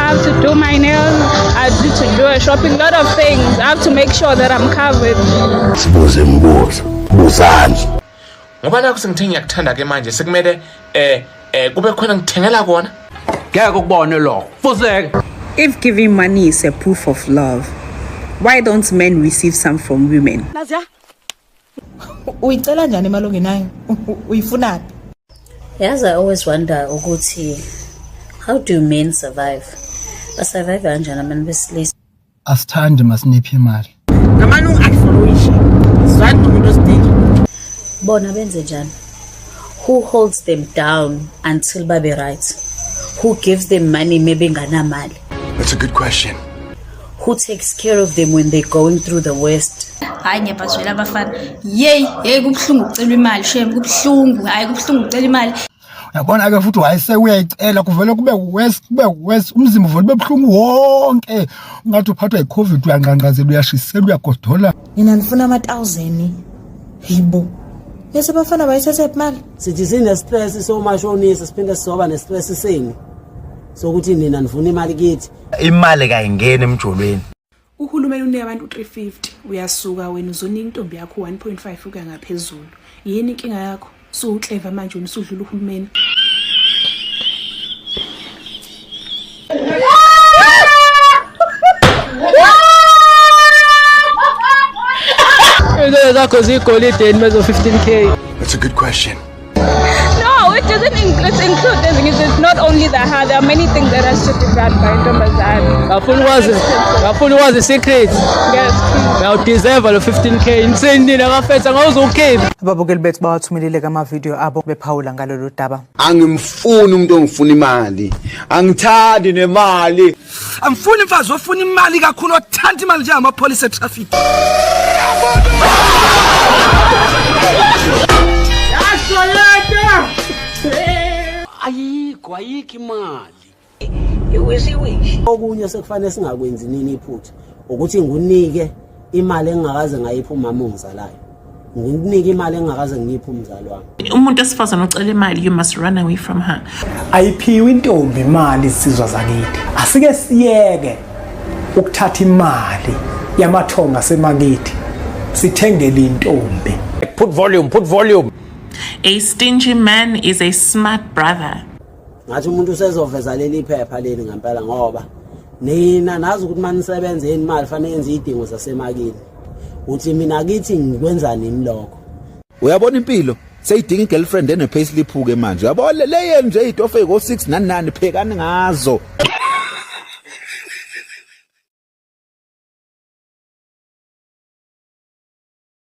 I have to do my nails, I need to do a shopping, lot of things. I have to make sure that I'm covered. Sibuze mbuzo, buzani. Ngoba nakho sengithe ngiyakuthanda ke manje sekumele eh eh kube khona ngithengela kona. Ngeke ukubone lo. Fuseke. If giving money is a proof of love, why don't men receive some from women? Nazia, uyicela njani imali ongenayo uyifunaphi yazi i always wonder ukuthi how do men survive basurvive kanjani abantu besilisa asithandi masiniphi imali ngamane ungu-advoloishe zwane nomuntu osidingi bona benze njani who holds them down until babe right who gives them money mebenganamali that's a good question who takes care of them when they're going through the worst hayi ngiyabazwela abafana yeyi yeyi kubuhlungu ukucela imali shem kubuhlungu hayi kubuhlungu ukucela imali yabona ke futhi wayese uyayicela kuvele kube worse kube worse umzimba uvele ube buhlungu wonke ungathi uphathwa yicovid uyanqanqazela uyashisela uyagodola mina ndifuna ama-thousand yibo bese bafana bayisesephi mali sithi sinestress somasho onisi siphinde sizoba nestress senu sokuthi nina nifuna imali kithi imali kayingeni emjolweni uhulumeni unike abantu 350 uyasuka wena uzonike intombi yakho 1.5 ukuya ngaphezulu yini inkinga yakho suwukleva manje wena usudlula uhulumeni Into zakho zigolideni mezo 15k That's a good question No, it doesn't include, include the things. It's not only the hair. There are many things that has to be done by Ntombazane. Ngafuna wazi, ngafuna wazi secret. Yes. Now deserve lo 15k. Insini nakafetha ngawuzokhipha. Ababukeli bethu bawathumelile kama video abo bephawula ngalolu daba. Angimfuni umuntu ongifuna imali. Angithandi nemali. Angifuni imfazi ofuna imali kakhulu othanda imali njengamapholisa etraffic. Ayikho ayikho imali. Iwisiwishi. Okunye sekufanele singakwenzi nini iphutha ukuthi ngunike imali engingakaze ngayipha umama ongizalayo ngikunike imali engingakaze ngiyiphe umzali wami umuntu esifazane ocela imali you must run away from her ayiphiwe intombi imali isizwa zakithi asike siyeke ukuthatha imali yamathonga asemakithi sithengele intombi put volume put volume a stingy man is a smart brother ngathi umuntu usezoveza leli phepha leli ngempela ngoba nina nazi ukuthi uma nisebenza yeni imali fanele yenze iy'dingo zasemakini uthi mina kithi ngikwenzani yini lokho uyabona impilo seyidinga i-girlfriend ene-payslip-ke manje uyabo le yenu nje iy'tofu ey'ko-six nani nani phekani ngazo